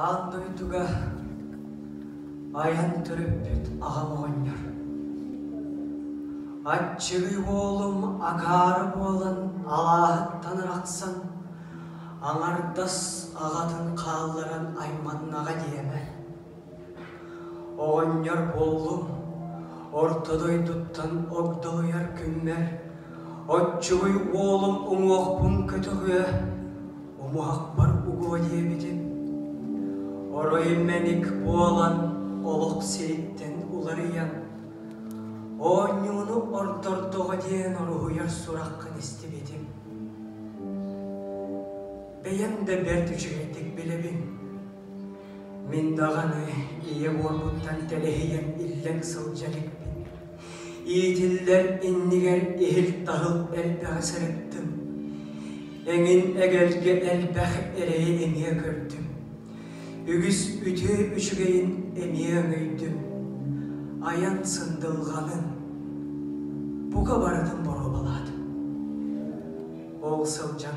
Аан дойдуга айан төрөппүт аҕам оҕонньор. Аччыгый уолум акаары буолан алааһыттан арахсан, аҥардас аҕатын хаалларан айманнаҕа диэмэ. Оҕонньор буоллум, орто дойдуттан огдолуйар күммэр, оччугуй уолум уҥуохпун көтөҕүө, умуһахпар угуо диэбитим оройу мэник буолан олох сириттэн уларыйан оонньууну ордордоҕо диэн уруһуйар сураххын истибитим бэйэм да бэрт үчүгэйдик билэбин Мин даҕаны ийэ буолбуттан кэлэһийэм иллэҥ сылдьа иликпин. Иитиллэр иннигэр иһил-таһыл элбэҕи сырыттым. Эҥин эгэлгэ элбэх эрэйи эмиэ көрдүм. Үгүс үтүө үчүгэйин эмиэ өҥөйдүм. Айан сындылҕанын бука барытын боруобалаатым. Ол сылдьан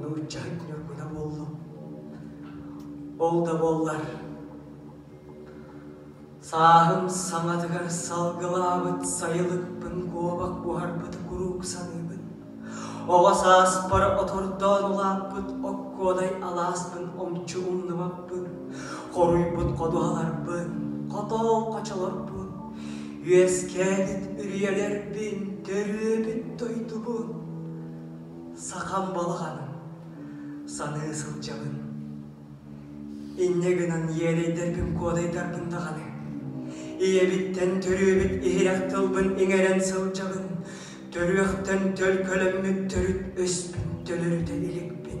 нууччаһыт ньургуна буоллум. Ол да буоллар сааһым саҥатыгар салгылаабыт сайылыкпын куобах буһарбыт куруук саныыбын. Оҕо сааспар отордоон улааппыт оккуодай алааспын омчу умнубаппын. Хоруйбут ходуһаларбын хотоол хочолорбун. Үөскээбит үрүйэлэрбин төрүөбүт дойдубун. Сахам балаҕаным, саныы сылдьабын. Инньэ гынан иэдэйдэрбин куодайдарбын даҕаны, ийэбиттэн төрүөбүт иһирэх тылбын иҥэрэн сылдьабын, төрүөхтэн төлкөлөммүт төрүт өспүн төлөрүтэ иликпин.